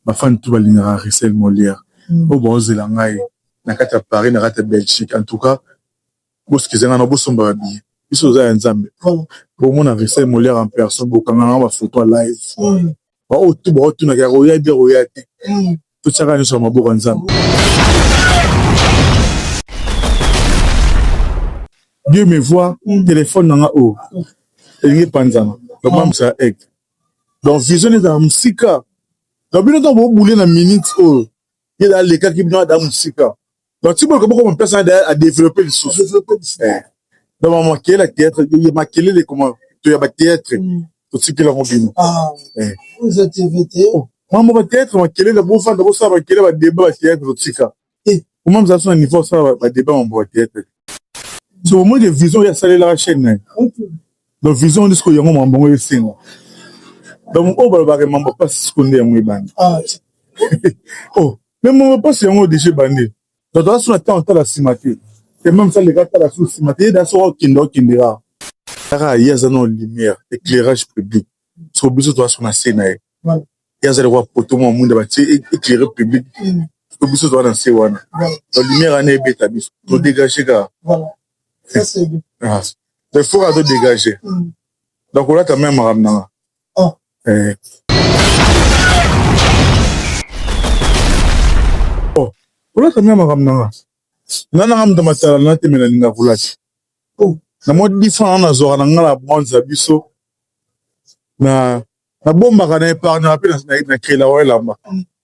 ba fan tout balingaka Russel Molière oyo bazo zela ngai na kati ya Paris na kati ya Belgique en tout cas bo skiza ngai na bosomba ba billets biso toza ya Nzambe bomona Russel Molière en personne bokanga nanga ba photo ya live ba oyo tout bao tunaka ya koya bia koya te totiaka nyonso ya maboko ya Nzambe Dieu me voit téléphone nanga oyo elingi epanzana babambisa egg donc vision ezala mosika na bino ntango bobule na minute oyo ye da alekaki bino ada mosika donc ti boluka bokoma place na da adeveloppe lisusu eh. donc bamakele ya théâtre ye makelele koma to ya bathéâtre mm. totikela ngo bino ah. eh. mambo bathéâtre makelele bofanda bosala bakele badeba bathéâtre totika Eh, comment vous avez un niveau ça va débat en boîte théâtre. So au moins des visions ya salela la chaîne nayo. Donc vision disco yango mambo ngo esenga. Donc oyo balobaka que mambo pas siko nde yango ebandi. Ah. oh, mais mambo pas yango déjà ebandi. Donc toza suna temps tala sima te. Et même ça les gars tala sous sima te. Yeda so okende okendera. Kaka ye aza na lumière, éclairage public. So biso toza suna scène nayo. ye aza lokola poto mwa mwinda batie eclaire public to biso toza na se wana ba lumière wana ebeta biso to dégage ka mais fo kaka to dégage nakolata meme makambo nanga eh. oh, kolata meme makambo nanga nga nanga moto matala natemela linga kolata oh. na mwa difan wana nazwaka na nga na bande na biso na nabombaka na epargnaka mpe na kela wa elamba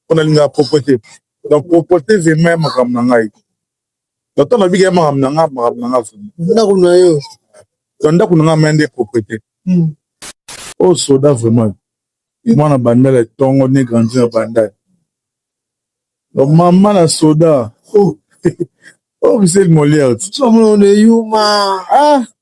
mpo nalingaka proprete donc proprete vrema ya makambo na ngai nato nabika ya makambo na ngai makambo na ngai ndako na yo na ndako na ngai maya nde proprete hmm. oyo oh, soda vraiment mwana bandala etongo ne grandi na bandala donc mama na soda oh. oyo oh, miseli moliere ti yuma ah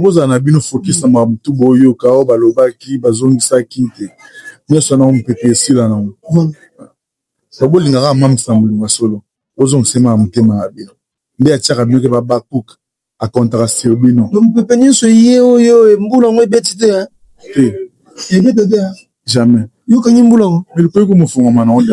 Bozala na bino focus na makambo tout boyoka oyo balobaki bazongisaki te nionso wana mupepe esila na ngo po bolinga kaka mam's na bolingo ya solo bozongisa ye mawa motema na bino nde atiaka bino ke ba habacuc a comptaka sur bino mupepe nionso eye oyo mbula ngo ebeti te te ebeta te jamais yokangi mbula ngo mais likoki komofongama na ngo te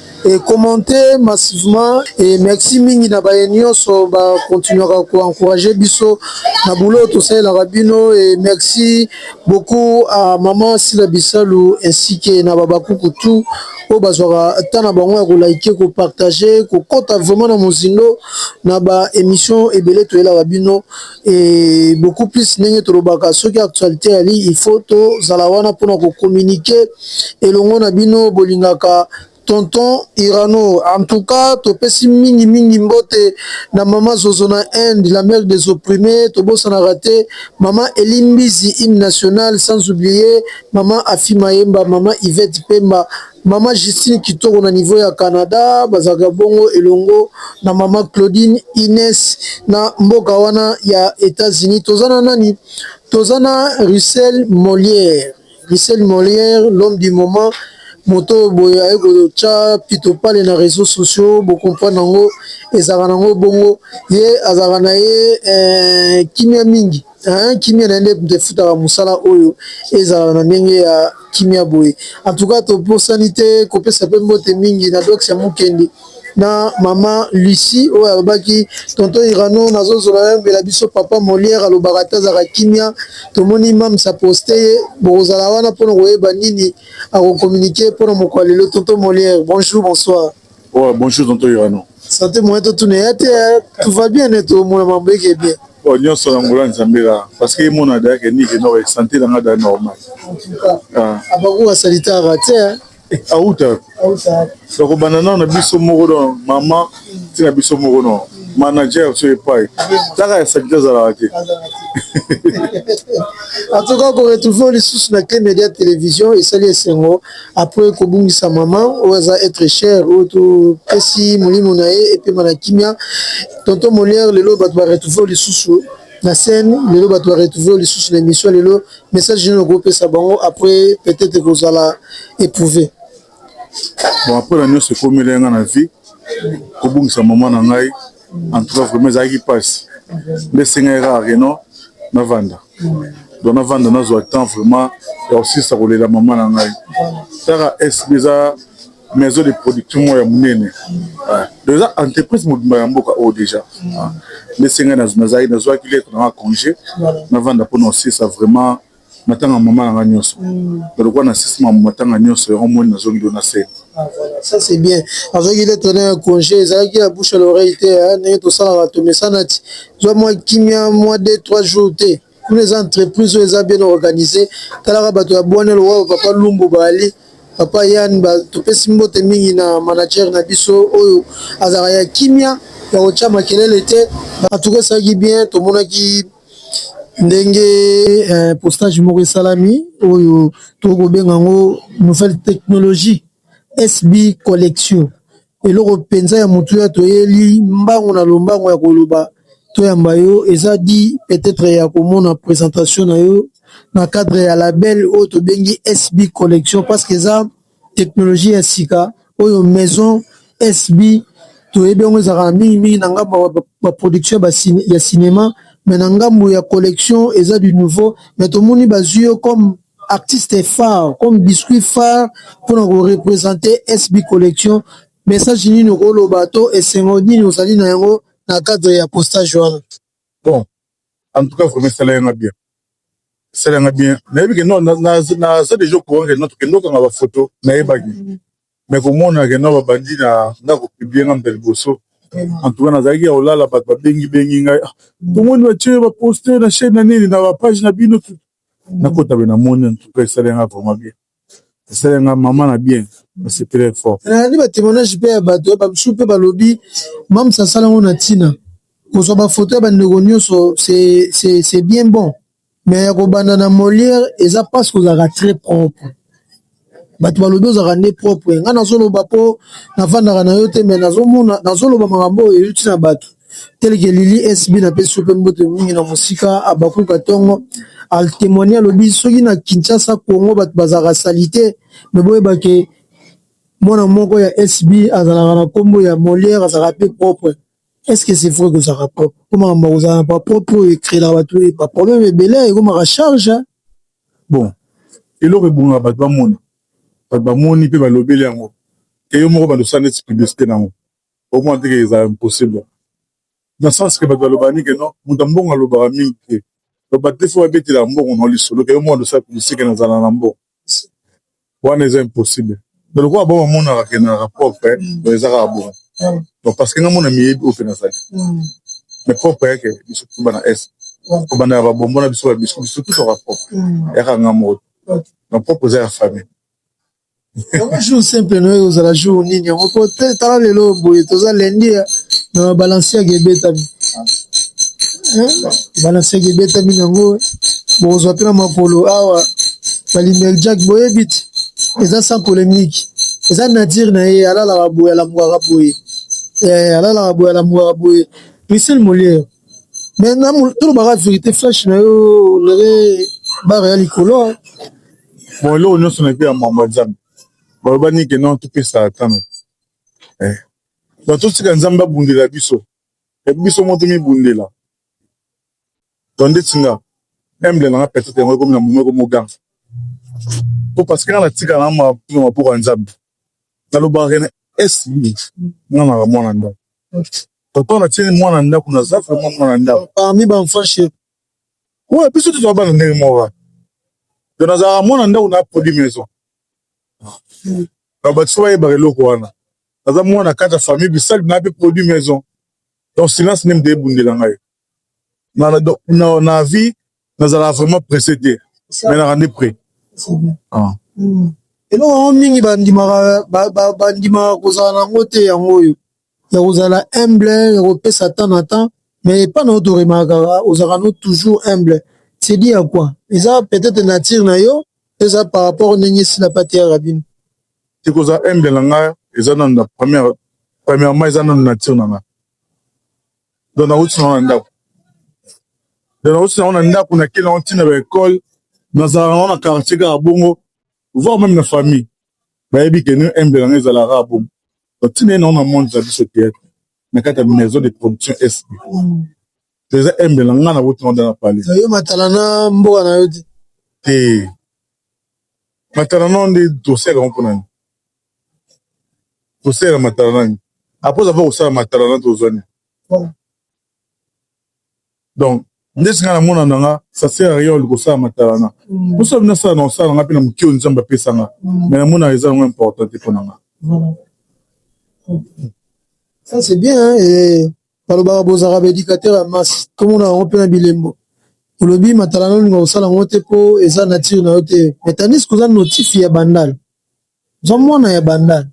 E commente massivement et merci mingi na baye nionso ba continuaka ko encourager biso na boulot oyo tosalelaka bino et merci beaucoup à maman Sila Bisalu ainsi que na babakuku tout oyo bazwaka temps na bango ya ko liker ko partager kokota vraiment na mozindo na ba emission ebele toyelaka bino et beaucoup plus ndenge tolobaka soki actualité yali il faut tozala wana mpona kocommuniquer elongo na bino bolingaka tonton irano en tout cas topesi mingi mingi mbote na mama zozo na inde la mère des opprimés tobosanaka te mama elimbizi hymne national sans oublier mama afi mayemba mama ivete pemba Mama Justine kitoko na niveau ya Canada bazalaka bongo elongo na mama Claudine Ines na mboka wana ya Etats-Unis. Toza na nani? Toza na Russell Molière. Russell Molière l'homme du moment moto boye aye kotya pito pale na réseaux sociaux bocomprendre yango ezalaka nango bongo ye azalaka na ye eh, kimia mingi Hein, kimia na nde nde futaka musala oyo ezala na ndenge ya kimia boye. En tout cas topusani te kopesa pe mbote mingi na Dox ya Mukendi na maman Lucie oyo alobaki tonton Irano nazozola yambela biso papa Molière alobaka atazaka kimia tomoni mams aposte ye bokozala wana mpona koyeba nini akokominike mpona mokolo ya lelo tonton Molière bonjour bonsoir Ouais, bonjour tonton Irano. Santé moyen to tuna ya te tout va bien ne to mona mambo eke bien. Bon nyonso na ngola nzambe la parce que mona da ke ni ke no santé na ngada normal. En tout cas. Ah. Abaku wa salita ba te. Eh, auta. Auta. Donc bana na biso moko don maman tina biso moko non. manager so epai taka ya salite azalaka te en tout cas koretrouve lisusu na cle media télévision esali esengo apres kobungisa mama oyo aza etre cher oyo topesi molimo na ye epema na kimia tonton moliere lelo bato ba retrouve lisusu na scène lelo bato ba retrouve lisusu na émission lelo message nini okopesa bango apres peut-être ekozala éprouve bon apres na nyonso ekomi elenga na vie kobungisa mama na ngai en tout cas vraiment ezalaki mpasi nde esengaki kaka keno navanda donc navanda nazwa temps vraiment ya kosilisa kolela mama na ngai kaka sb eza maison de production moko ya monene donc eza entreprise mobimba ya mboka oyo déjà nde esengaki nazalaki nazwaki lettre nanga congé navanda mpona kosilisa vraiment matanga mama na nga nyonso nalokuwa na sisi mama matanga nyonso yango moni nazongi do na se ah, ça c'est bien azwaki lettre na ya congé ezalaki ya bouche à l'oreille te hein, ndenge tosalaka tomesana ti zwa mwa kimia mwa de trois jours te kuna eza entreprise oyo eza bien organisé talaka bato ya bwane lowa papa lumbu baali papa yan topesi mbote mingi na manager na biso oyo azalaka ya kimia ya kotya makelele te batuka esalaki bien tomonaki ndenge eh, postage moko esalami oyo tokoki kobenga yango nouvelle technologie sb collection eloko mpenza ya motu ya toyeli mbango na lombango ya koloba toyamba yo eza di peut-être ya komona présentation na yo na cadre ya label oyo tobengi sb collection parce que eza Technologie ya sika oyo maison SB toyebi yango ezalaka na mingi mingi na ngambo ya ba production ya cinema mais na ngambo ya collection eza du nouveau mais tomoni bazwi yo comme artiste phare comme biscuit phare mpona ko representer SB collection message nini okoloba to esengo nini ozali na yango na cadre ya postage wana? Bon En tout cas, vraiment, ça l'a bien. Ça l'a bien. Mais que non, na na ça déjà courant que notre que notre la photo na ebagi. Mais comme on a que non bandi na na ko publier na mbel boso. En tout cas, na zaki au la la bat ba bengi bengi ngai. Tout le monde va tuer va poster na chaîne na nini na page na bino tout. Na kota bena moni en tout cas ça l'a vraiment bien. esali nga mama na bien nasepele fort nayandi ba témoignage mpe ya bato ya bamisusu mpe balobi mamsa asala yango na ntina kozwa bafoto ya bandeko nyonso c'est bien bon mais ya kobanda na molière eza mpasi kozalaka très propre bato balobi ozalaka nde propre ngai nazoloba mpo nafandaka na yo te mais nazomona nazoloba makambo oyo euti na bato telke lili SB na pesi yo pe mbote mingi na mosika Habacuc Atongo a temoigner alobi soki na Kinshasa Congo bato bazalaka salite mais boyeba ke mwana moko ya SB azalaka na kombo ya Molière azalaka pe propre est ce que c'est vrai kozalaka propre po makambo ya kozala na ba propre oyo ecreelaka bato ba problème ebele ekomaka charge bon eloko ebongaka bato bamona bato bamoni pe balobeli yango ke yo moko balusa neti publicité na yango Okomona te ke ezala impossible na sens ke bato baloba nini ke non moto ya mbongo alobaka mingi te donc bato te fo babetela mbongo na lisolo ke yo moko tosala publicite ke nazala na mbongo wana eza impossible donc lokola bango bamonaka ke nazalaka propre donc eza kaka bongo donc parce que nga mona miyebi oyo mpe nazali mais propre yake biso tuba na est kobanda ya babombo na biso babisco biso tutaka propre yaka nga moko donc propre eza ya famille yango jour simple noye ozala jour nini yango po te tala lelo boye toza lendi eh, na balanciaga ebetami eh, balanciaga ebetami nango eh. bokozwa mpe na makolo awa balimel jack boyebi te eza sans polémique eza nature na ye alalaka boye alamukaka boye alalaka boye alamukaka boye michel moliere mais na tolobaka verité flash na yo olere bare ya likolo bon eloko nyonso na epe ya mambo ya nzambe baloba nike non topesa atano eh. ba totika nzambe abundela biso e biso moto mibundela to ndeti nga emble nanga petete yango ekomi na momo eko moganza po parce que nga natika na mapino mapoko ya nzambe nalobaka kene esi nga naka mwana ndako Papa na tieni mwana ndako na za vraiment mwana ndako parmi ba enfants chez ouais biso tozwa bana ndenge moko to nazalaka mwana ndako na poli maison na bato bayebaka eloko wana naza mwana kata famille bisali na pe produit maison donc silence nde moto ebundela ngai na, na, na, na vie nazalaka vraiment presse te mais naka nde près ah. hmm. eloko yango mingi bandimaka kozala na yango te yango oyo ya kozala humble ya kopesa temps na temps mais epa na yo toremakaka ozalaka no toujours humble c'est dit ya quoi eza peut-être nature na yo eza par rapport ndenge esila pate ya rabino te kozala humble na ngai eza nanu na première premièrement eza nanu nature na ngai donc nauti nango na ndako donc nauti nango na ndako nakei nango ntina ba ekole nazalaka nango na quartier kaka bongo voir meme na famille bayebi ke nini embe nango ezalaka kaka bongo donc ntina ye nango na monde na biso teyatre na kati ya maison de production esi toza embe na ngai nauti nango nda na pale yo matala na mboka na yo te te matala nao nde dosiaka ngo mpo na nini Osalela matala nani? Après oza mpe kosala matala na tozwa nini? Donc ndeti nga na mona na nga ça sert à rien olingi kosala matala na mosala mpe nasala na kosala na nga mpe na moke oyo Nzambe apesa nga mais na mona eza yango important te mpo na nga. Ça c'est bien hein, et balobaka bozalaka ba éducateur ya masse tomona yango mpe na bilembo olobi matala na olinga kosala yango te mpo eza nature na yo te mais tandis que oza notif ya bandal Za mwana ya bandal.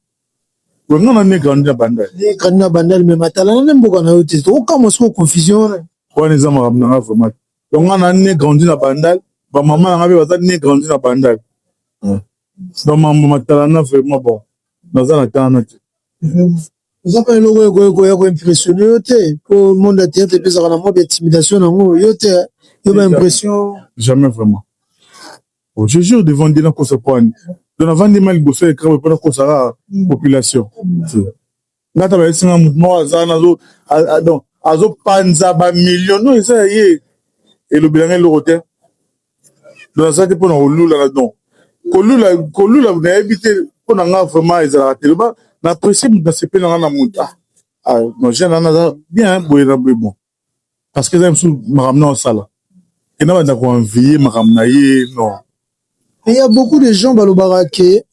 Oui, nga na ne grandi na bandal. Ne grandi na bandal mais matala na ne mboka na yo te. To kama siko confusion wana. Wana eza makambo na nga vraiment. Donc nga na ne grandi na bandal, ba maman na nga pe baza ne grandi na bandal. Hmm. Ba mambo matala na vraiment bon. Naza na temps na te. Hmm. Oza pa eloko ekoki koya ko impressionner yo te. Po monde ya théâtre epesaka na mode intimidation na ngo yo te. Yo ba impression. Jamais vraiment. Oh je jure devant Dieu nakosa pwani donc navandi ma liboso ya ecran po nakosa kaka population nga ta bayebisi nga mouvement oyo aza nazo donc azopanza ba million no eza ya ye elobela nga eloko te donc aza te mpo na kolula na don kolula kolula nayebi te mpo na nga vraiment ezalaka te loba na apprécie moto nasepeli na nga na moto ah, ah non jeune wana aza bien boye na boye bon parce que eza mosusu makambo na osala et na banda koenvie makambo na ye non mais ya beaucoup de gens balobaka ke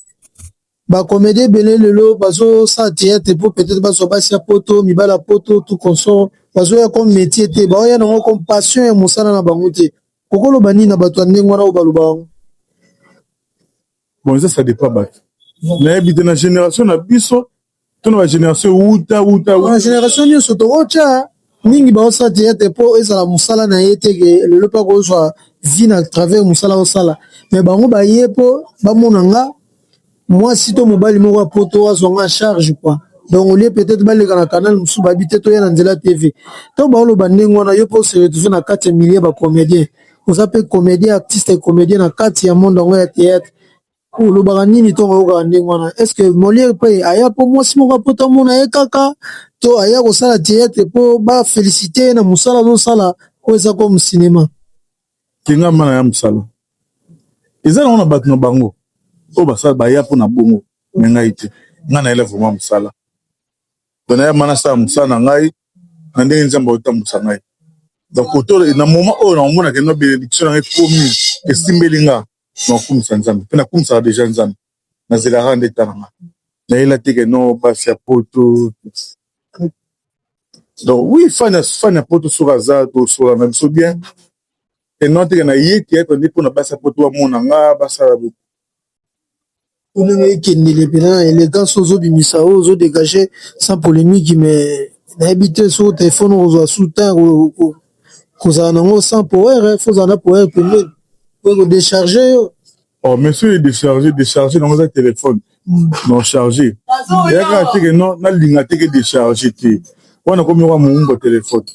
bacomédie ebele lelo bazosala théâtre mpo peut-être bazwa basi ya poto mibala ya poto tout consort bazoya comme métier te baoya nango comme passion ya mosala na bango te okoloba nini na bato ya ndenge wana oyo baloba yango bon eza ça dépend bato nayebi te na génération na biso tuna ba generation wuta wuta ba generation nyonso tokotya mingi baosala teyate mpo ezala mosala na ye te ke lelo mpe akozwa vie na travers mosala osala me bango baye mpo bamona nga mwasi to mobali moko ya poto azwa nga charge kua donc olie peut-être baleka na canal mosusu bayebi te toya na nzela tv to baoloba ndenge wana yo mpe ose retrouve na kati ya milieu ba comedien oza mpe comedien artiste comedien na kati ya monde yango ya teyate Olobaka nini to oyokaka ndenge wana est ce que Molière pe aya po mwasi moko apota mona ye kaka to aya kosala theatre po ba felicite ye na mosala azosala po eza comme cinema kenga mana ya mosala eza nango na bato na bango oyo basala baya mpona bongo me ngai te ngai nayela vraimen mosala to naya mana asala mosala na ngai na ndenge nzambe aotambwisa ngai donc koto na moment oyo na omona kenda benediction na ngai ekomi esimbeli ngai nakumisa nzambe mpe nakumisaka deja nzambe nazelaka nde ta na nga nayela te ke non basi ya poto donc oui fan fan ya poto soki aza tosola na biso bien et non teke naye teyatre nde mpona basi ya poto bamona nga basala Olingi ekendele pena na elegance ozo bimisa oyo ozo degage sans polemique mais nayebi te soki telephone okozwa sous temps kozala na yango sans power faut ozala na power pembeni po eko decharge yo Oh, mais soki edecharge decharge nango eza telefone non charge eyaka teke non nalinga teke decharge te wana komi oka moumbo telefone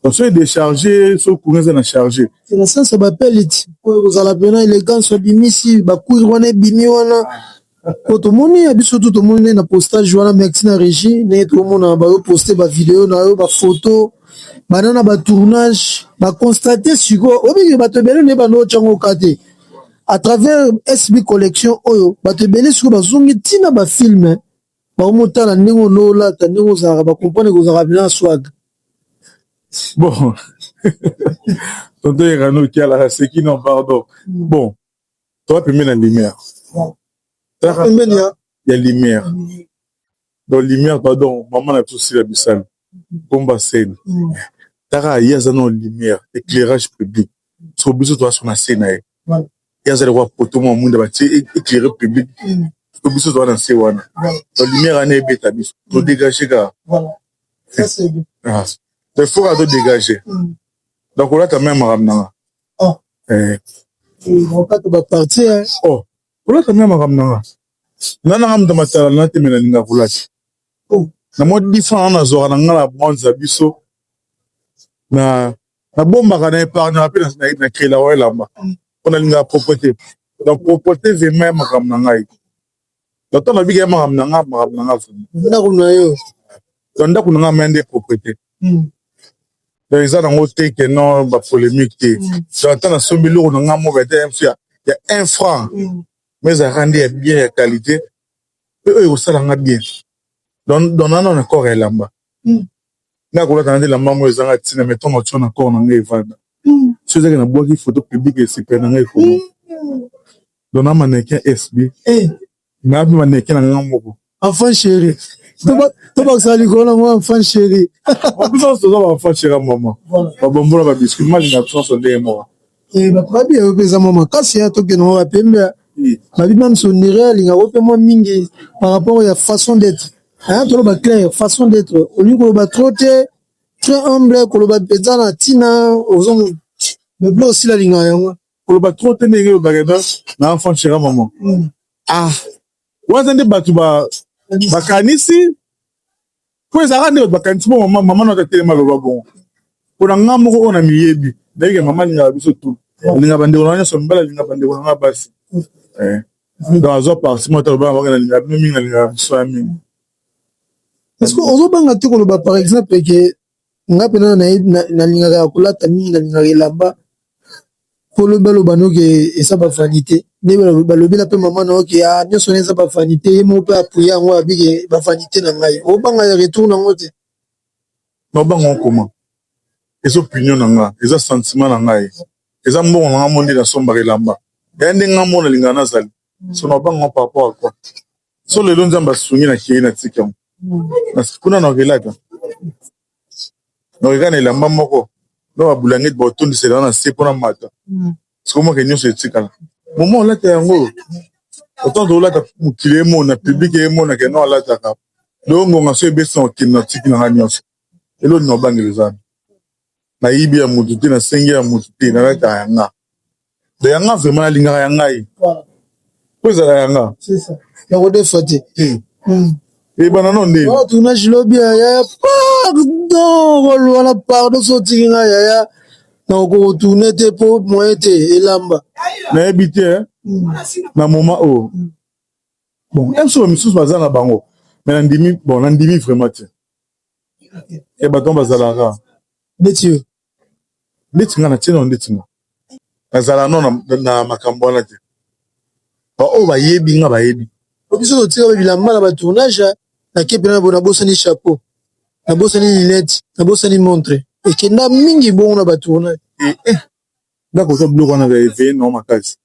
Parce que décharger, ce courant est na charger. C'est la sens ba pellet. Pour vous la bien élégance bimisi ba cours wana bimi wana. Ko to moni ya biso tout moni na postage wana merci na régie, na to mona ba poster ba vidéo na yo ba photo. Bana na ba tournage, ba constater siko obi ba to bele ne ba no chango kate. À travers SB collection oyo, ba to bele siko ba zongi tina ba films. Bango motala ndenge onolata ndenge ozalaka ba comprendre que ozalaka na swag. Bon. Tonton Erano Kiala aseki non pardon. Mm. Bon. Toi pembeni ya lumière. Toi pembeni ya ya lumière. Donc lumière pardon maman na biso sila bisani. Pomba scène kaka ye aza nao lumière eclairage public sikoyo biso toza so na se na ye ye aza lokola poto mua muinda batie eclaire public sikoyo biso toza na se wana ba lumière wana ebeta biso to degage kaka mais faut kaka to degage na kolata meme makambo nanga kolata meme makambo nanga nga nanga moto matala na te me nalinga kolata na mwa 10 ans na zwaka na nga na bronze ya biso na na bombaka na epargnaka mpe na kela wa elamba mpo nalingaka propreté donc propreté vrema ya makambo na ngai donc ntango nabika ya makambo na nga makambo na nga vrema ndako na yo donc ndako na nga maya nde propreté hmm. donc eza nango te ke non bapolémique te hmm. donc ntango nasombi eloko na nga moko ete ya 1 franc hmm. mais ezalaka nde ya bien ya qualité pe oyo ekosala nga bien don nano na corps ya elamba hmm. nga kolata na nde elamba yango ezanga ntina me ntongo tio na corps na nga evanda hmm. so ezaki na bwaki foto publike esepele na nga ekoma hmm. don na manekin sb eh. na mpe manekin na nga moko enfant chéri tobakisaka likolo na ngo enfant chéri biso nyonso toza ba enfant chéri ya mama babombola babiscuit malinga biso nyonso ndenge moko Eh, babi yayo mpe eza mwa makasi ya tokende mwa bapembe babi bamsondere alingaka mpe mwa mingi par rapport ya façon d'être aya toloba claire façon d'être olingi koloba trop te très humble koloba mpenza na ntina ozo moblo osila alingaka yango koloba trop te ndenge olobaka eza na enfant chera mama hmm. ah waza nde bato bakanisi po ezalaka nde bato bakanisi bo mama mama na tatelema loba bongo mpona nga moko oyo na miyebi ndayike mama alingaka biso tu alinga bandeko na nyonso mibali alinga bandeko na nga basi eh. donc azwa parti moko ata lobanga bakena alinga bino mingi alingaka biso ya mingi est ce que ozobanga te koloba par exemple ke nga pena nalingaka ya kolata mingi nalingaka elamba poloba loba noke eza ba vanite nde balobela mpe mama na oke a nyonso na eza ba vanite ye moko mpe apuya yango abike ba vanite na ngai obanga ya retour na yango te na obanga okoma eza opinion na nga eza sentiment na ngai eza mbongo na nga mo nde nasombaka elamba yaya nde nga mo nalingaka nazali so na obanga par rapport a quoi so lelo nzambe asungi na kei na tika yango na kuna na relata nakeka na elamba moko na babulangeti baotondisela wana na se mpona mata sikomaka nyonso etikala moma olata yango otanto olata mokili emona publike emonaka no alataka longonga so ebesina okende na tiki na ngai nyonso elo nini obangela eza wapi na yibi ya mutu te na sengi ya mutu te na lata ya nga de ya nga vraiment nalingaka ya ngai po ezala ya nga na kodefa te ebana no nde tournage lobi ya yaya pardon kolwa na pardon so otiki nga yaya na kokotourne te po moyen te elamba nayebi te na moment oyo bon mpe misusu baza na bango me nandimi bon nandimi vraiment te ya bato wana bazalaka neti yo neti nga na tina neti nga nazala no na makambo wana te baoyo bayebi nga bayebi biso totika ba bilamba na ba tournage na kepe na bo nabosani chapeau nabosani linete nabosani montre ekenda mingi bongo na ba tournage eh, eh. ndako oza biloko wana ba eveye nao makasi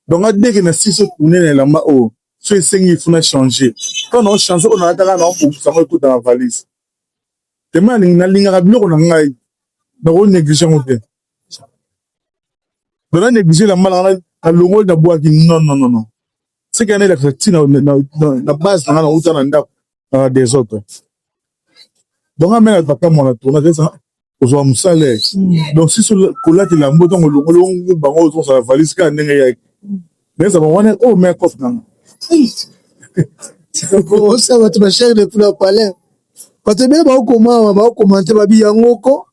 donc adeke na sisi tourne na elamba oyo so esengi il faut na changer quand na change oyo nalataka na obongisa yango ekota na valise tema alingi nalingaka biloko na ngai nako néglige yango te donc na néglige elamba na ngai nalongoli nabwaki non non non non seke yana elakisa ntina na base na ngai nauta na ndako na des autres donc amela papa mwana tourna eza ozwa mosala hmm. donc si kolatela mbo ntango olongoli ongo bango ozosala valise kaka ndenge eyaki naeza bango wana oyo mea kof nanga osa bato bashare de pula palais bato ebele baokomawa baokomante babi yango ko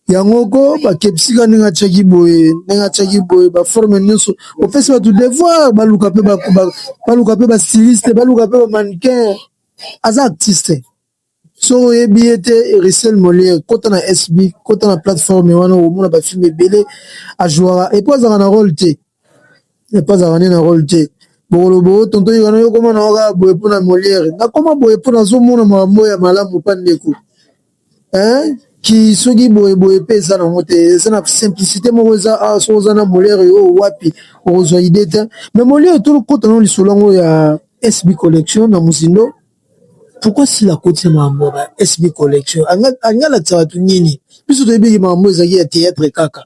yango ko bakebisika ndenge atiaki boye ndenge atiaki boye baforme nyonso opesi bato devoir baluka mpe baluka mpe bastiliste baluka mpe bamanicain aza artiste soki oyebi ye te erisel moliere kota na sb kota na plateforme wana omona bafilme ebele ajouaka epo azalaka na role te Epa azalaka nde na role te. Bokoloba o tonton Yikana yo okoma na yo kaka boye mpo na Molière. Nakoma boye mpo nazomona makambo oyo ya malamu mpa ndeko. Hein? Ki soki boye boye mpe eza nango te. Eza na simplicité moko eza awa soki oza na Molière oyo wapi okozwa idée te. Mais Molière tokota na lisolo yango ya SB collection na mozindo. Pourquoi Sila akotisa makambo ya SB collection? Alingi alakisa bato nini? Biso toyebi ke makambo ezalaki ya theatre kaka.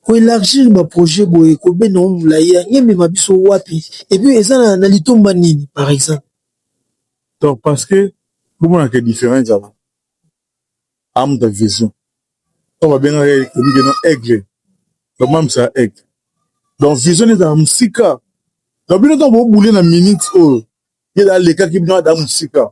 Ko elargir ba projet boye ko benda yango mulayi yango emema biso wapi et puis eza na litomba nini par exemple? Donc parce que bo monaka que different ezala awa mutu ya vision oyo ba bengaka ye toyebi que aigle ba mamisa aigle donc vision naye ezala musika donc bino tangu bo bouler na minute oyo ye alekaki bino ada musika.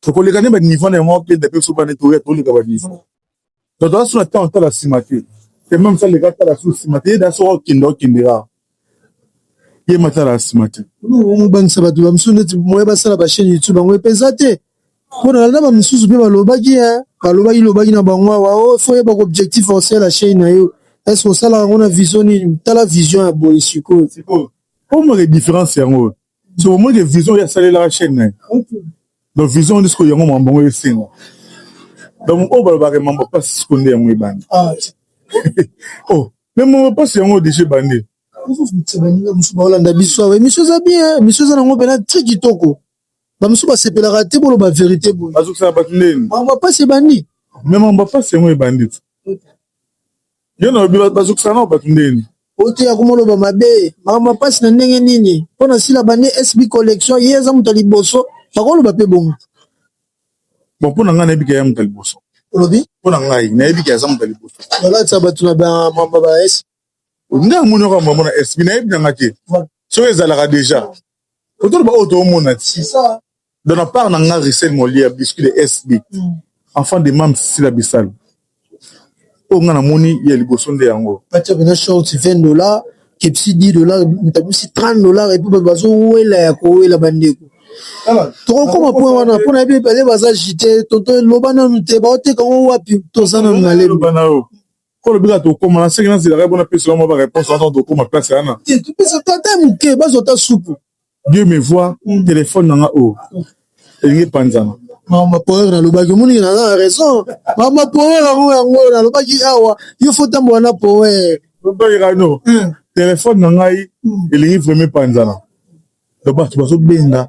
tokoleka nde banivo na yango akenda mpe soba nde toya toleka banivo bato aso na ntango tala nsima te te meme sa leka tala so nsima te yeda soko okenda okendela ye matala ya nsima te mobangisa bato ba mosusu neti moya basala bachaine youtube yango mpeza te mpo na landa bamosusu mpe balobaki e balobaki lobaki na bango awa o oh, fo oyebaka objectif osala la chaine na yo estce osalaka yango na vision nini tala vision ya boye sikoyo omake différence yango so bomoni ke vision oyo asalelaka chaîne na ye donc vision nde sikoyo yango mambo yango esenga donc oyo balobaka mambo mpasi sikoyo nde yango ebandi ah, oh me mambo mpasi yango deja ebandi baninga mosusu baolanda biso awa emisio eza bien emisio eza nango mpena tri kitoko bamosusu basepelaka te boloba verité boye bazokisaka bato ndeni mambo mpasi ebandi me mambo mpasi yango ebandi Yo na lobi bazokisa nao bato ndenge nini? Oteya kuma oloba mabe makambo ya pasi na ndenge nini? Mpo na sila bande SB collection ye aza moto ya liboso bakoloba mpe bongo. Bon mpo na ngai nayebi ke ya moto ya liboso. Olobi? Mpo na ngai nayebi ke aza moto ya liboso. Balatisa bato na ba mamba ba SB. Nde amoni oko mamba na SB nayebi na ngai te soki ezalaka deja. Autour ba auto mona ti. Dans la part nanga Rissel Molia biscuit de SB. Mm. Enfant de Mam Sila Bissal. Oyo nga namoni ya liboso nde yango. Batia bena short 20 dollars, kepsi 10 dollars, mtabisi 30 dollars et puis bato bazo wela ya ko wela bandeko. Ah, tokokoma point wana mpo na yebi bale baza jite tonto loba nanu te baoteka ngo wapi toza nanu na lemba Kolo bika tokoma na seki nazelaka mpona pesa yo mwa ba réponse wana ntango tokoma place yana te topesa to ata moke bazwa ta supu dieu me voir mm. telefone na nga oyo oh. elingi epanzana mama power nalobaki omoni naza na raison mama power yango yango nalobaki awa yo fo tambola na power obayekano mm. telefone na ngai mm. elingi vraimen epanzana donc bato bazobenga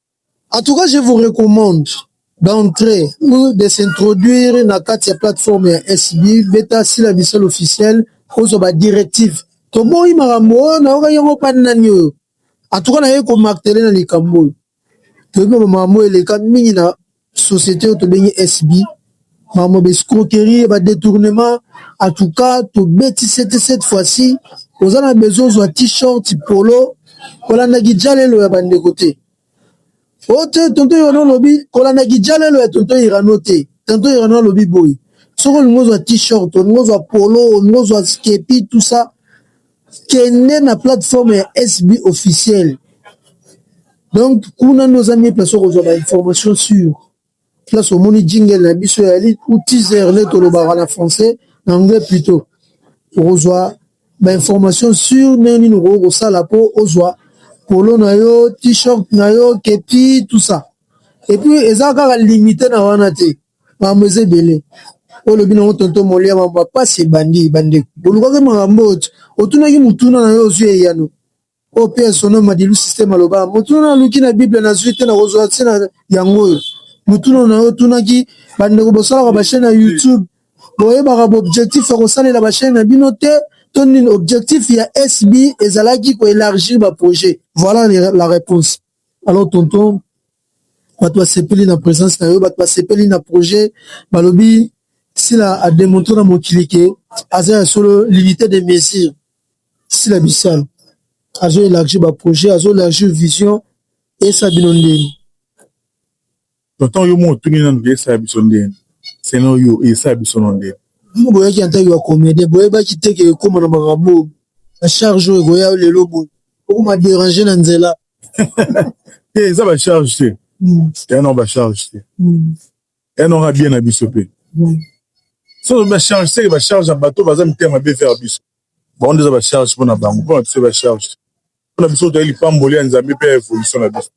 En tout cas, je vous recommande d'entrer ou de s'introduire na kati ya plateforme ya SB beta sila bisel officiel kozwa ba directive toboyi makambo oyo nayoka yango pani nani oyo en tout cas naye komartele na likambo oyo toyebi makambo eleka mingi na société oyo tobengi SB makambo ba escroquerie ba détournement en tout cas tobeti sete cette fois-ci oza na besoin ozwa t-shirt polo kolanda kijalelo ya bandeko te o te tonto irano olobi kolanda kijalelo ya tonto irano te tonto irano alobi boye soki olingi ozwa t-shirt olingi ozwa polo olingi ozwa skepi tout ça kende na plateforme ya SB officiel donc kuna nde oza mie place okozwa ba information sur place omoni jingle na biso ya li ou teaser nde tolobaka na français na anglais plutôt okozwa ba information sur ndenge nini okoki kosala mpo ozwa polo na yo t-shirt na yo kepi tout ça epuis eza kaka limite na wana te makambo eza ebele oyo lobi nango tonto molia mambo ya pasi ebandi bandeko bolukaki makambo oyo otunaki motuna na yo ozwi eyano oyo mpe sono madilu systeme alobaka motuna naluki na bible nazwi te nakozwa te na yango oyo motuna na yo otunaki bandeko bosalaka bachaine ya youtube boyebaka baobjectif ya kosalela bachaine na bino te to nini objectif ya sb ezalaki koelargir baprojet voilà la réponse Alors tonton, bato basepeli na presence na yo, bato basepeli na projet, balobi sila a demontre na mokili ke aza ya solo l'unité de mesure. Sila Bissal azo élargir ba projet, azo élargir vision, esa bino ndenge. Tonton yo mo otuni nanu ke esala biso nde seno yo esala biso no nde. Bino boyaki en tant que ba comedien boyebaki te ke ekoma na makambo oyo ba charge oyo ekoya yo lelo boye okoma derange na nzela. Te eza ba charge te ya no ba charge te ya no ka bien na biso pe so ba charge te ba charge ya bato baza mitema be vers biso bango nde eza ba charge pona bango pona biso ba charge te pona biso toyali lipamboli ya Nzambe pe ya evolution na biso.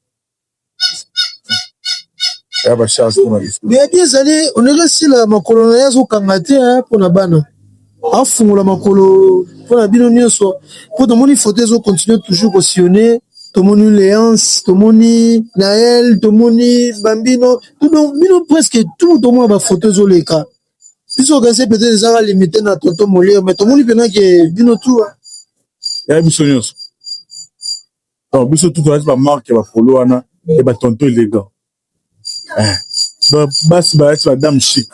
Beyaki ezali onele sila ya makolo na ye azokanga te mpo na bana afungola makolo mpo na bino nyonso mpo tomoni foto ezo continue toujours kosione tomoni leance tomoni nael tomoni bambino bino presque tout tomona bafoto ezoleka biso okanisi mpete ezaka limite na tonto molere me tomoni mpenake bino tua ya biso nyonso donc biso tout toyaki ba marque ya bapolo wana ya batonto elegant eh, donc basi bayaki badame chic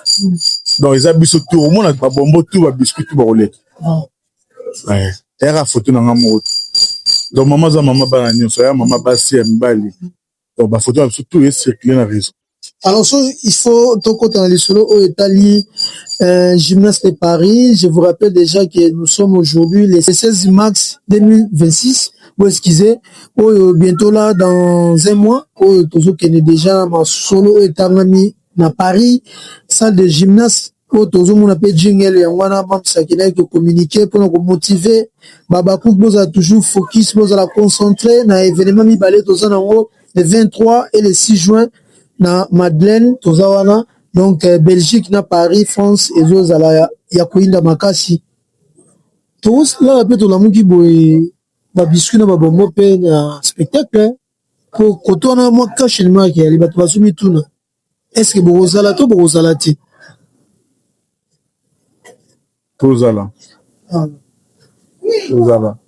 donc eza biso tour omona babombo tour babiscuit tour bakoleka eh, eyaka foto na nga moko donc mama aza mama bana nyonso aya mama basi ya mibali Donc ba photos na biso tout e circuler na reseau. Alors so il faut tokota na lisolo oyo etali euh, gymnase de Paris. Je vous rappelle déjà que nous sommes aujourd'hui le 16 mars 2026. Vous excusez, oyo bientôt là dans un mois, oyo tozokende déjà na masolo oyo etangami na Paris, salle de gymnase oyo tozomona mpe jingle yango wana mamsaki naye ko communiquer mpona ko motiver babakuk bozala toujours focus bozala concentre na evenement mibale toza nango le 23 et le 6 juin na madeleine toza wana donc euh, belgique na paris france ezozala ya, ya koyinda makasi tokosilaka mpe tolamuki boye babiscuit na babombo mpe na spectacle mpo koto wana mwa cache elmaki yali bato bazomituna Eske bokozala to bokozala te? Tozala. Ah. Tozala.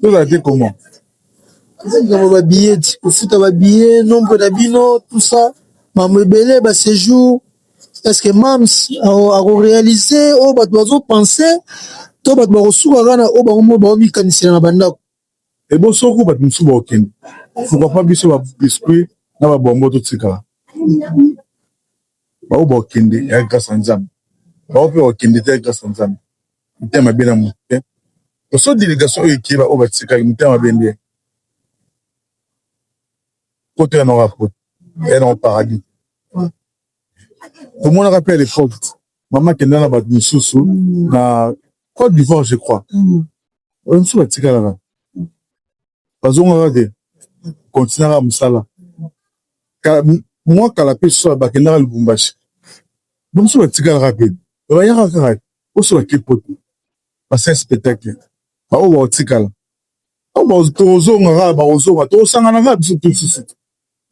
Tozala te comment? Likambo ba billet, kofuta ba billet, nombre na bino, tout ça, mambo ebele ba séjour. Est-ce que Mams ako réaliser oyo bato bazo penser to bato bakosuka kaka na oyo bango moko baomikanisela na bandako? Ebo soko bato mosusu bakokende pourquoi pas biso ba biscuit na ba bonbon totikala baoyo bakokende ya grâce ya nzambe baoyo mpe bakokende te ya grâce ya nzambe motema mabe na moto te oso delegation oyo ekeba oyo batikaki motema mabe nde poto ya noko ya poto ya noko paradis tomonaka mpe ya leforte mama kenda na bato mosusu mm. na cote d'ivoire je crois mm. oyo mosusu batikalaka bazongaka te kontinaka mosala mwa kala mpe soa bakendaka lubumbashi bamosusu batikalaka te bayaka kaka oso bake poto basala spectacle baoyo baotikala tokozonga kaka bakozonga tokosangana kaka biso tosusu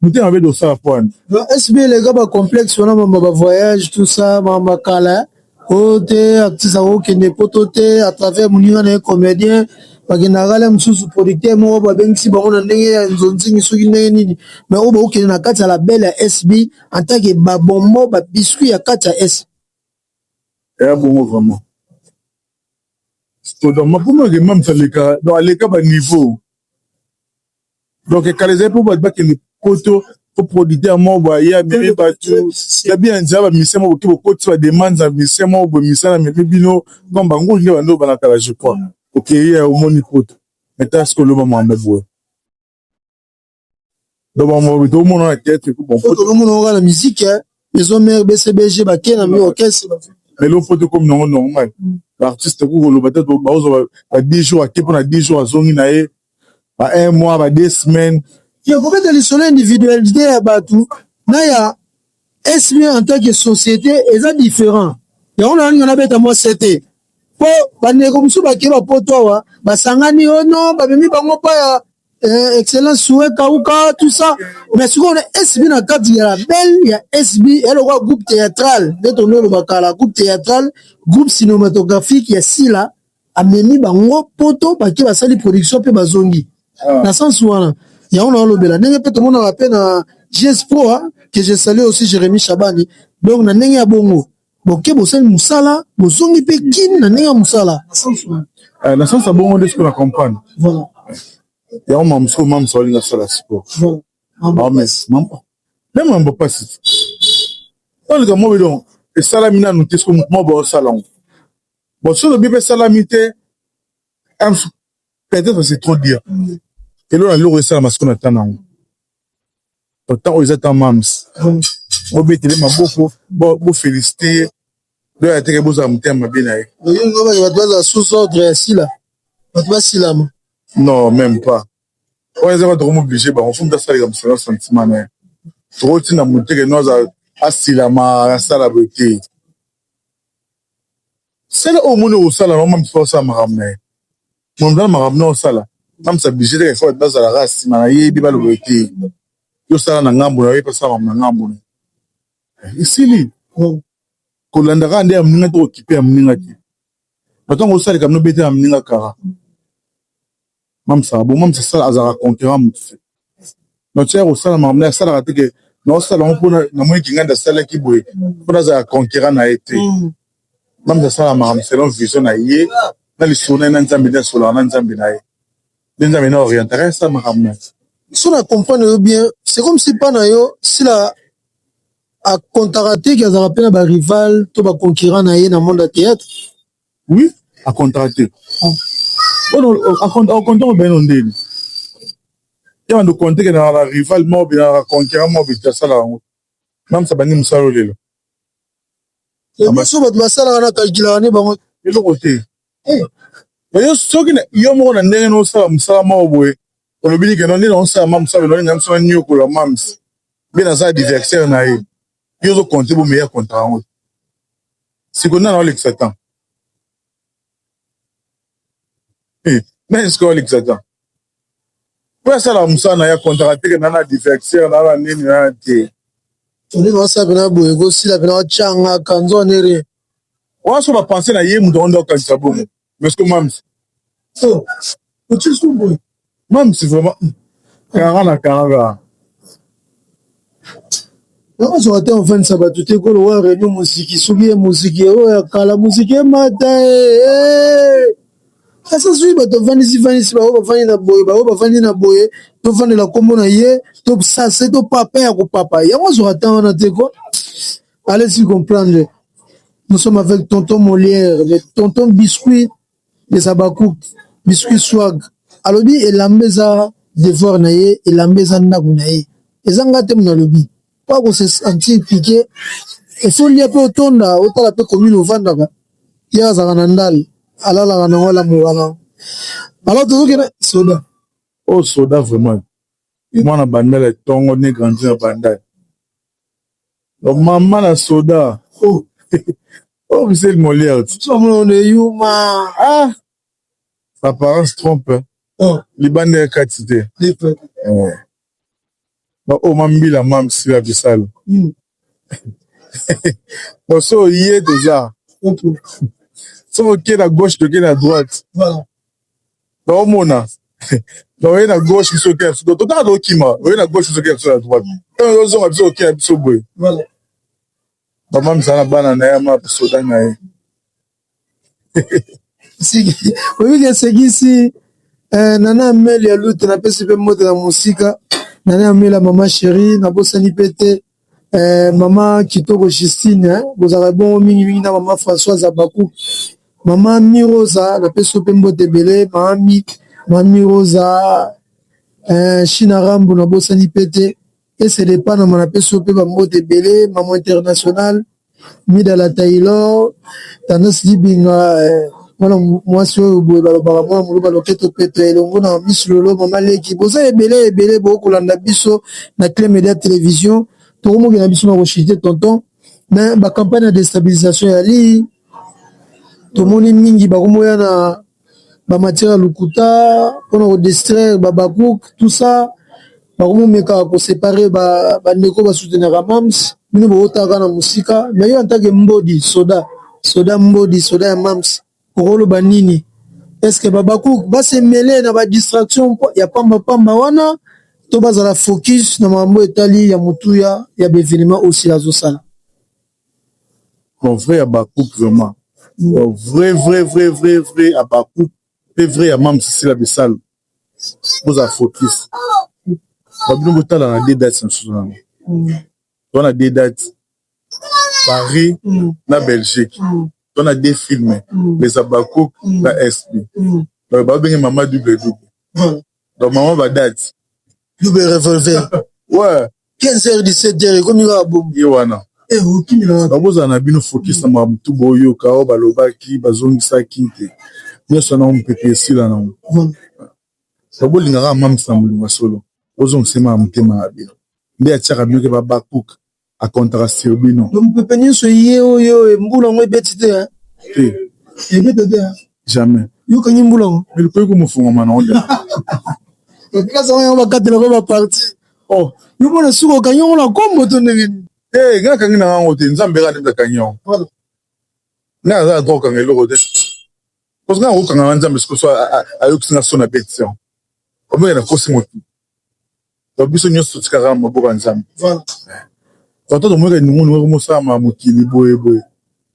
Motema mabe dosala pwani. Ba SB eleka ba complexe wana mama ba voyage tout ça mama kala oyo te actrice ako kende poto te à travers moninga na ye comedien bakendaka kala mosusu producteur moko babengisi bango na ndenge ya nzonzingi soki ndenge nini mais oyo bakokende na kati ya la belle ya SB en tant que ba bonbon ba biscuit ya kati ya SB ya bongo vraiment donc makomaki mamsa leka donc aleka ba niveau Donc kala ezali mpo bato bakende poto mpo producteur moko boye aye amemi bato ya bien ya nzela bamusicien moko boke bokotisi ba demande ya musicien moko boye musicien wana amemi bino comme bangulu nde bando bana kala je crois okeyi ya omoni poto maintenant soki oloba mambo boye donc bamoko boye tokomona na theatre mpo bon poto tokomona kaka na musique Maison mère BCBG ba tie na mi orchestre. Mais le faut comme non normal. Mm. L'artiste ko koloba te ba ozo ba 10 jours ake pona 10 jours azongi na ye. Ba un mois ba deux semaines. Ya ko beta lisolo individualité ya batu na ya SB en tant que société eza différent. Ya on a na beta moi c'était. Po ba ndeko musu ba ke ba poto wa basangani oh non ba mimi bango pa ya eh, excellence souhait kauka tout ça mais sikoyo na sb na kati ya label ya sb ya lokola groupe théâtral nde tondo oloba kala groupe théâtral groupe cinématographique ya sila amemi bango poto bake basali production mpe bazongi ah. na sense wana yango na olobela ndenge mpe tomonaka mpe na gs pro que je salue aussi jérémi shabani donc na ndenge ya bongo Boke bosali musala bozongi pe kin na ndenge ya musala eh, na sens abongo nde siko na comprendre voilà yango mama siko mama siko alinga sala siko voilà mama mais mama na mambo pasi olika mobe donc esalami nanu te siko moto mobe osala ngo bon soki obi pe esalami te peut-être c'est trop dire mm. elona loko esalama siko na tana ngo Autant oyo eza ta mams. Bo betele maboko, bo bo feliciter ye. Do ya teke bo za mutema mabe na ye. Oyo ngo ba ba za sous ordre ya sila. Ba ba silama. Non, même pas. Oyo eza ba toko mo obliger ba fo muta sala musu na sentiment na ye. Toko tina muteke no za asilama asala boye te. Sala oyo moni osala no mams osala makambo na ye. Mon grand makambo nao sala nanu c'est oblige te il faut bazala kaka sima na ye pe baloba ye te yo sala na ngambo na yo ye pe asala makambo na ngambo na ye esili kolanda kaka nde ya moninga te kokipe ya moninga te na ntango ozo sala likambo nobeta ya moninga kara mamsa abongo mamsa sala azalaka conquerant motu te donc tika kosala makambo na asalaka te ke naosala yango mpona namoni kingandi asalaki boye mpo nazala conquérant na ye te mm. mamza asala makambo selon vision na ye na lisolo na ye na nzambe nde asolaka na nzambe na ye nde nzambe na orientaka asala makambo na so na comprendre yo bien c'est comme si mpa na yo sila akontaka te ke azalaka mpe na barival to baconcurrent na ye na monde ya théâtre Oui, a contracter. Ono a contracter au beno ndeni. Ya bando compter na la rival mob na conquérant mob ta sala ngo. Nam sa bani musalo lelo. Le biso bat masala na calcula ne bango eloko te. Eh. Yo soki na yo moko na ndenge no sala musala moko boye. Olobili ke non ndeni on sala mam sala ndeni ngam sala nyokola mams. Bien aza adversaire na ye. yo ozo compte bo meilleur contrat yango siko nana olekisa temps eh, nani siko olekisa temps po asala mosala na ya contrat teke nana divertir nana nini nana te toli naosala pena boye kosila pena ocanga kanzo nere wana so bapense na ye moto yango nde okanisa bongo mais ce mams oh otie sous boy mams vraiment kara na kara nakozwa te ofensa bato te kolowa reunion moziki soki ye moziki oyo ya kala moziki emata asa soki bato bafandisi fandisi bango bafandi na boye bango bafandi na boye tofandela nkombo na ye tosase topapa ya kopapa yango azwaka ntan wana te ko Allez-y comprendre. Nous sommes avec Tonton Molière, le Tonton Biscuit des Abakouk, Biscuit Swag. Alobi elamba eza devoir na ye, elamba eza ndako na ye. Eza nga te mona alobi. Pas qu'on se sentir piqué. Et faut lia pe otonda, otala pe commune ovandaka. Ye azaka na ndal, alalaka na wala mwana. Alors tozoki na soda. Oh soda vraiment. Mwana bandala tongo ne grandi na bandala. Maman la soda oh oh Michel Molière on est humain ah l'apparence trompe hein. oh. libanda ya kati te eh. ba o oh, mambila mam sila bisalo mm. oso oye toza soki okei na gauche tokei na droite Naomona na oye na gauche biso oke na sudo totanga tokima oye na gauche biso oke na biso na droite ntango ezozonga biso oke na biso boye mama misala na bana na ye ama bisoda na ye oyebiki esekisi eh, nana ameli ya lute napesi mpe mbote na mosika nana ameli ya mama sheri nabosani mpe te Eh, mama kitoko Justine eh, bozalaka bongo mingi mingi na mama Françoise Abaku, mama Mi Rosa napesi yo pe mbote ebele, mama Mi, mama Mi Rosa eh, Shina Rambo nabosani pe te, ese de Panama napesi yo pe ba mbote ebele, mama internationale mida la taylor tendance libinga eh, mwana mwasi oyo boye balobaka mwana moluba loketo peto elongo na miss lolo mama leki boza ebele ebele bokolanda biso na cle media television tokomoki na biso na koshite tonton me bacampagne ya destabilisation ya lii tomoni mingi bakomoya na ba matière ya lokuta pona ko distraire ba habacuc tout ça bakomi komeka ko separe ba ndeko ba soutenaka mam's bino bozo tala kaka na musika mais yo en tant que mbodi soda, soda mbodi soda ya mam's oko loba nini? Est ce que ba habacuc ba se meler na ba distraction ya pamba pamba wana to bazala focus na makambo oyo etali ya motuya ya ba evenements oyo Sila azo sala? Mon vrai habacuc vraiment vrai vrai vrai vrai vrai habacuc pe vrai ya mam's sila bisalu bozala focus ba bino botala na deux dates na susu nanu toza na deux dates Paris na Belgique toza na deux films les habacuc na SB donc ba benge mama double double donc mama ba dates double revolver ouais 15h17 ekomi kaka bongo. Ye wana. Eh, okimi na wapi? Bakozala na bino focus na makambo tu boyoka oyo balobaki bazongisaki te. Nyonso wana mopepe esila na ngo. Ba bolinga kaka mamisa na bolingo ya solo. Bozongisa ye maka motema na bino. Nde atiaka bino ke Habakkuk a comptaka sur bino. Mopepe nyonso eye oyo mbula yango ebeti te. Te. Ebeta te. jamais yo kangi mbula ngo mais likoki komofunga mwana ngo kasi yango bakatela ko baparti o oh, yo mona suka okangi yango na kombo to ndenge nini e eh, nga kangi na ngango te nzambe nga ndemza kangi yango nga aza na droit okanga eloko te parce nga okanga na nzambe sikoso ayokisi nga so na beti yango omeke nakosi motu donc biso nyonso totikaka na maboko ya nzambe ata tomonaka enungunungu oko mosalama mokili boye boye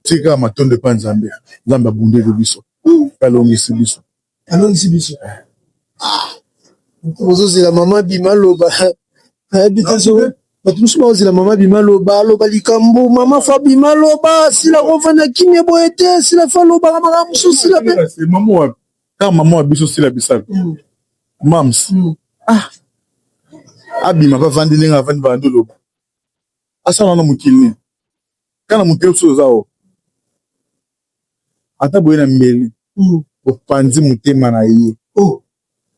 tiki kaka matondo epa nzambe nzambe abundeli biso mpe alongisi biso alongisi biso ozozela mama bima loba nayebi te so bato mosusu baozela mama bima loba aloba likambo mama fa bima loba sila kofanda kimia boye te sila fa lobaka makambo mosusu sila mpe mama wapi kaka mama wa biso sila bisalu mm. mams mm. ah abima mpe avandi ndenge avandi bandi oloba asala wana mokili nini kana mokili mosusu oza o ata boye na mbeli mm. opanzi motema na ye oh.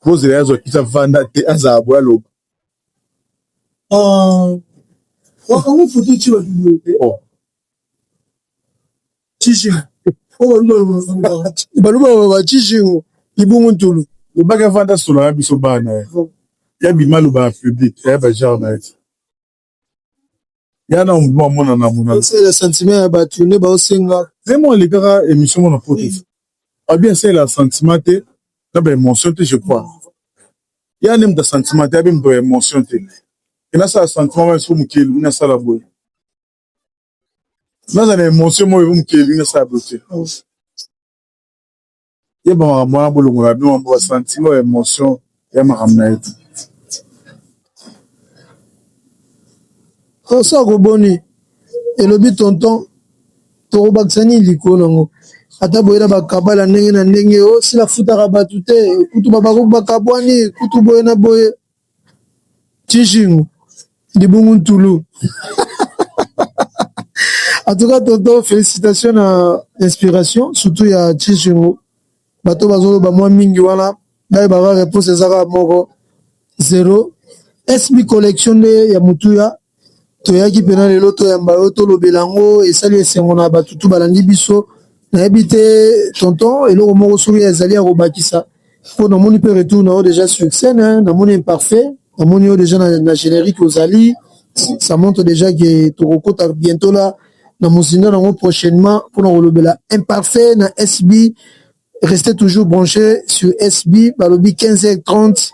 bozela yazwa kisa vanda te azala boye aloba ah. wakango foto ti babilote Tijingo. Oh non, baluba baba tijingo libungu ntulu. Lobaki avanda solo ya biso bana ye. Ya bima loba ya public, ya ba genre na ye. Ya na mbo amona na mona. C'est le sentiment ya batu ne ba osenga. Zemo alikaka emission mona poto. Abi c'est la sentiment te na ba emotion te je crois. Ya ne mta sentiment te abi mta emotion te. Ina sa sentiment ba so mukeli na sala boye. naza na emotion moko ezo mokili elingi nasala boye te ye bamakambo wana bolongola bino mambo basantimo ya emotion ya makambo na ye te oso akoboni elobi tonton tokobakisa nini likolo nango ata boye na bakabala ndenge na ndenge osila oh, futaka bato te kutu babakabwani kutu boye na boye Chishingu libungu ntulu en tout cas tonton félicitation na inspiration surtout ya Chishingu bato bazoloba mwa mingi wana bayebaka réponse ezaka moko zero SB collection nde ya motuya Toyaki pena lelo toyamba yo tolobela yango esali esengo na bato tu balandi biso nayebi te tonton eloko moko soki ezali ya kobakisa po namoni pe retour na yo deja sur scène namoni imparfait namoni yo deja na generique ozali ça montre deja que tokokota bientot la na mozindo nango prochainement pona kolobela imparfait na SB. Restez toujours branchés sur SB balobi 15h30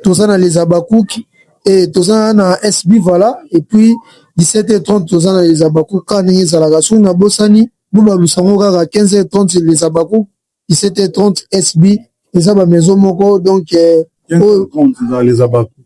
toza na les Habacucs et toza na SB voilà et puis 17h30 toza na les Habacucs kaka ndenge ezalaka soki na bosani bobalusa yango kaka 15h30 les Habacucs 17h30 SB eza ba maison moko donc euh, oyo 15h30 eza les Habacucs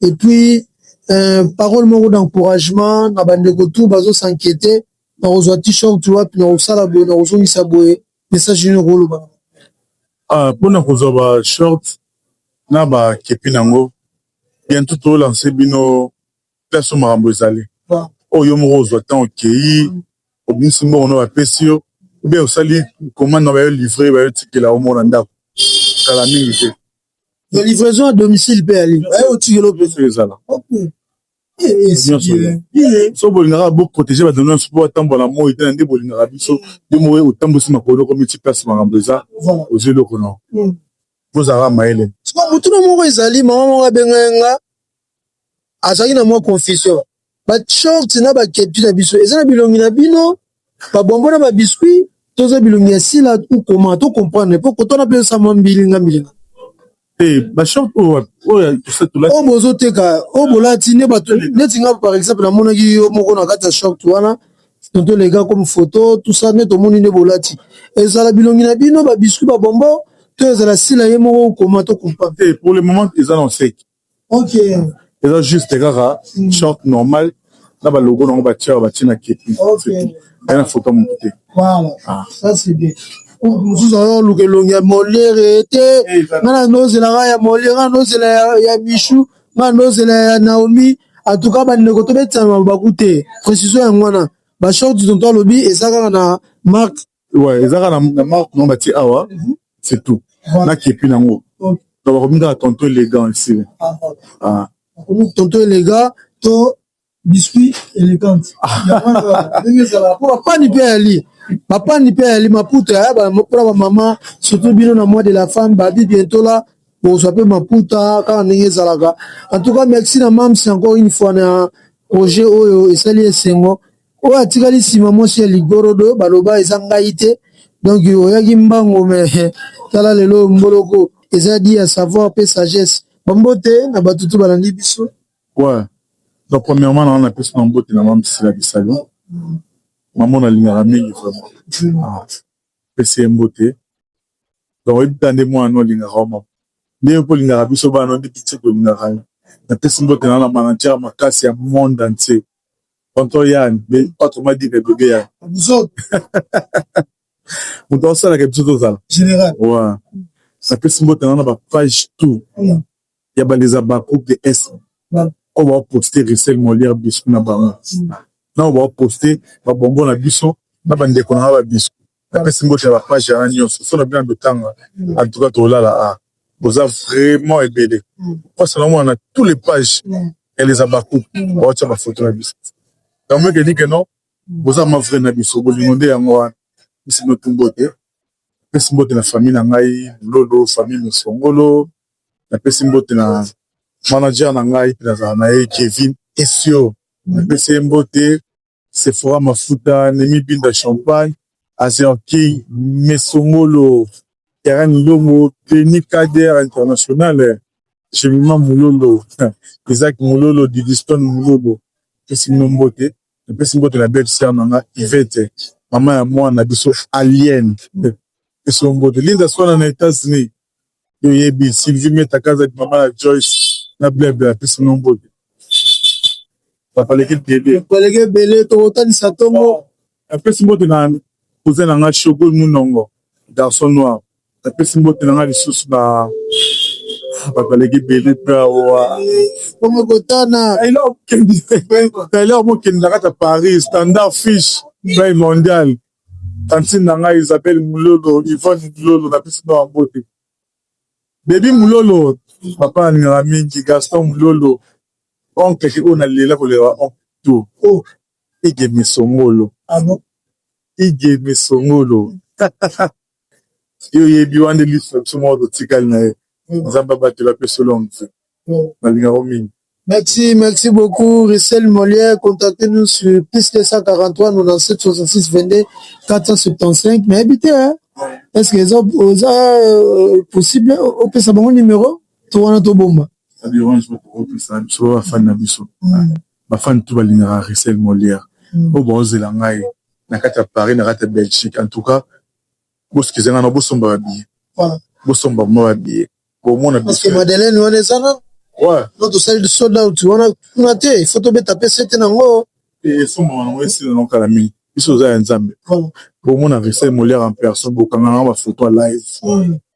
et puis euh, parole moko d'encouragement na bandeko tu bazo s'inquiéter na kozwa t-shirt wapi na kosala boye na kozongisa boye message nini okoloba ah, mpona kozwa ba short na bakepi nango bientôt tolanse bino place oyo makambo ezali oyo yo moko ozwa ntango okei obimisi mbongo na bapesi yo obe osali komande na bayo livre bayo tikela omona ndako kala mingi te Mais livraison à domicile pe ali. Ayo otikelo pe ezala. Okay. so bolingaka bo protéger bato nyonso mpo batambola na moi te na nde bolingaka biso yo moko otambwisi makolo oko miti place makambo eza ozwi eloko na ozalaka mayele sikoyo motuna moko ezali mama moko abengai nga azalaki na mwa confusion ba short na ba kepi na biso eza na bilongi na bino ba bonbon na ba biscuit toza bilongi ya sila ou comment to comprendre po kotana pe sa mwa mbilinga mbilinga Eh, ba short oyo wapi? Oyo ya Toussaint Toulati. oyo bozoteka oyo bolati nde bato neti nga par exemple namonaki yo moko na kati ya short wana tonto lega comme photo tout ça nde tomoni nde bolati ezala bilongi na bino ba biscuit ba bonbon to ezala sila ye moko ou comment to comprendre Eh, pour le moment eza na oseki. okay eza juste kaka mm. short normal na ba logo nango batia ba batie na kepi okay na foto moto te voilà ah. ça c'est bien mosusu azoluka elongi ya molere te nga na nozela nga ya molere nga nozela ya michou nga nozela ya naomi atuka bandeko tobetisana mabaku te précision yango wana bashort tonto alobi eza kaka na marque Ouais, ezaka na, na marque non batie awa, c'est tout. Na kepi nango. Donc bakomi kaka tonton élégant ici. Ah. Bakomi tonton élégant to biscuit élégant. Ndenge ezala po bapani pe ali. Bapani pe ali maputa ya ba pona ba maman surtout bino na mois de la femme ba bi bientôt là bozwa pe maputa kaka ndenge ezalaka. En tout cas merci na Mams encore une fois na projet oyo esali esengo. oyo atikali nsima mwasi ya ligorodo baloba eza ngai te donc oyaki mbango me tala lelo mboloko eza di ya savoir pe sagesse bambote na bato tu balandi biso ouais. donc premièrement naa na pesi na mbote na mamsila bisalu mamo nalingaka mingi vraiment ah, pesi ye mbote donc oyebita nde mwana olingaka oma ndenge mpo olingaka biso bana nde bitie tolingaka ye napesi mbote naa na manatiere makasi ya monde entier tonton yan autrement dit que bebe yan moto asalaka biso tozala général wa napesi mbote na na ba page tout mm. ya baleza ba groupe de est oyo baoposte risel molière biso na bango mm. na oyo baoposte babongo na biso na bandeko na nga ba biso napesi mbote ya bapage yana nyonso so na bino andotanga antuka tolala a boza vraiment ebele mpasa na omona na tous les pages ya les abacouk baotya bafoto na biso yango ekedi ke non boza ma vrai na biso bolingo nde yango wana pesi notu mbote napesi mbote na famille na ngai lolo famille mosongolo napesi mbote na manager na ngai mpe nazala na ye kevin esio napesi ye mbote Sephora mafuta, Nemi Binda champagne, Azerki, Mesongolo, Karen Ndongo, Denis Kader international, Gemima Mulolo, Isaac Mulolo, Didistone Mulolo. Napesi bino mbote, napesi mbote na belle sœur na nga Yvette, mama ya mwana na biso Aliene. Napesi yo mbote. Linda Swana na Etats-Unis, Yo yebi Sylvie Meta kaza di mama ya Joyce na Bleu Bleu apesi no mbote. Ba paleki ebele. Ba paleki ebele toko talisa tongo. Apesi mbote na cousin na nga Shogo Munongo garçon noir. Apesi mbote na nga lisusu na ba paleki ebele pe awa. Bongo kotana. Taylor Mokende na kata Paris standard fish bay mondial. Tantine na ngai Isabelle Mulolo, Yvonne Mulolo na pesi bino mbote. Baby Mulolo, papa alingaka mingi Gaston Mulolo, oncle ki oyo na lela kolela ba oncle tout. Oh, Igeme Songolo. Ah bon? Igeme Songolo. Yo oyebi wana nde lisu na biso moko totikali na ye nzambe abatela apesa yo longue vie na linga yo mingi. Merci, merci beaucoup Russel Molière, contactez nous sur plus 243 97 66 22 475 mais habite hein? est-ce que eza oza euh, possible opesa bango numéro to wana tobomba. Ça dérange pas, opesa biso ba fan na biso. ba fan tout ba lingaka Russel Molière oyo bao zela ngai na kati ya Paris na kati ya Belgique en tout cas bo excusez ngai na bo somba ba billets voilà bo somba vraiment ba billets bo mona parce que Madeleine wana eza na ouais no to sali sold out wana kuna te il faut to beta pe sete na ngo et somba wana ngo esila na kala mingi biso za ya Nzambe voilà bo mona Russel Molière en personne bo kanga na ba photo live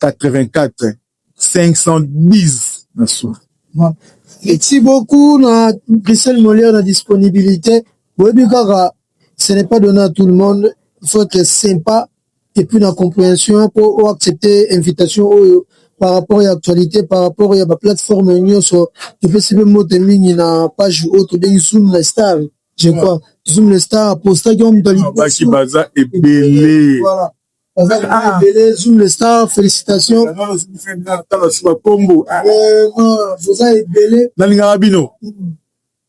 84 510 na suka. Merci beaucoup na Christelle Molière na disponibilité. Boyebi kaka ce n'est pas donné à tout le monde. Il faut être sympa et puis na compréhension pour accepter invitation oyo par rapport ya actualité par rapport ya ba plateforme nyonso topesi mpe mbote mingi na page oyo tobengi zoom na star je crois zoom na star apostaki yango moto ya liboso baza ebele voilà nalingaka bino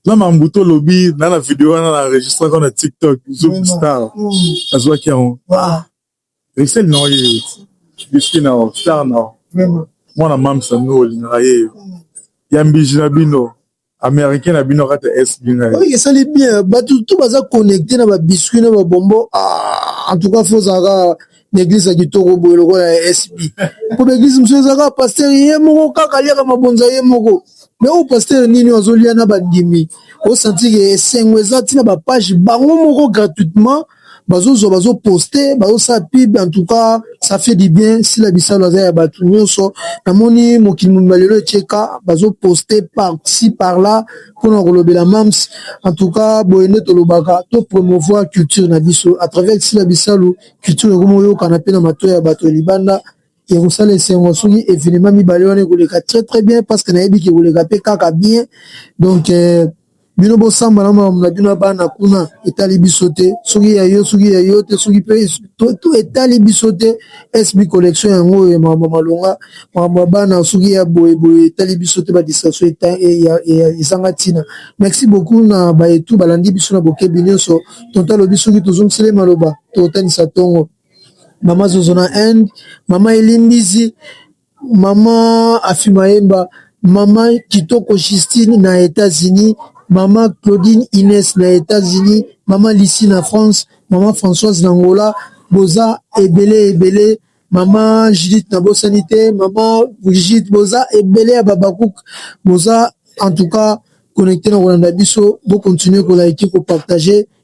na mambu tolobi na na video wana na enregistraka na tiktok zoom star azwaki yango risel na oye biski na star na mwana mamsa no olingaka yeyo ya mbiji na bino Americain na bino kata SB na ye. Oui, esali bien. Batu tout baza connecté na ba biscuits na ba bonbons. Ah, en tout cas faut zaka na église ya kitoko boye lokola ya SB. Ko ba église mususu ezaka pasteur ye moko kaka aliaka mabonza ye moko. Mais au pasteur nini azolia na bandimi. Osanti ke esengo eza tina ba page bango moko gratuitement. bazozwa bazo poste bazosala pub en tout cas ça fait du bien sila bisalu aza ya bato nyonso namoni mokili mobimba lelo etieka bazo poste par ci par là mpona kolobela mams en tout cas boye nde tolobaka to promouvoir culture na biso à travers sila bisalu culture ekomi oyokana mpe na mato ya bato ya libanda ekosala esengo soki evenema mibale wana ekoleka très très bien parce que nayebi ke ekoleka mpe kaka bien donc euh, bino bosamba na makambo na bino ya bana kuna etali biso te soki ya yo soki ya yo te soki mpe to etali biso te sb collection yango oyo makambo malonga makambo ya bana soki ya boyeboye etali biso te badistraction ezanga ntina merci beaucoup na baetu balandi biso na bokebi nyonso tonto alobi soki tozongisele maloba tokotanisa ntongo mama zozo na inde mama elimbisi mama afimayemba mama kitoko justine na etats-unis mama claudine ines na etats-unis mama lisi na france mama françoise na ngola boza ebele ebele mama judith na bosani te mama brigide boza ebele ya babakuke boza en tout cas connecte na kolanda biso bocontinue kolaiki kopartage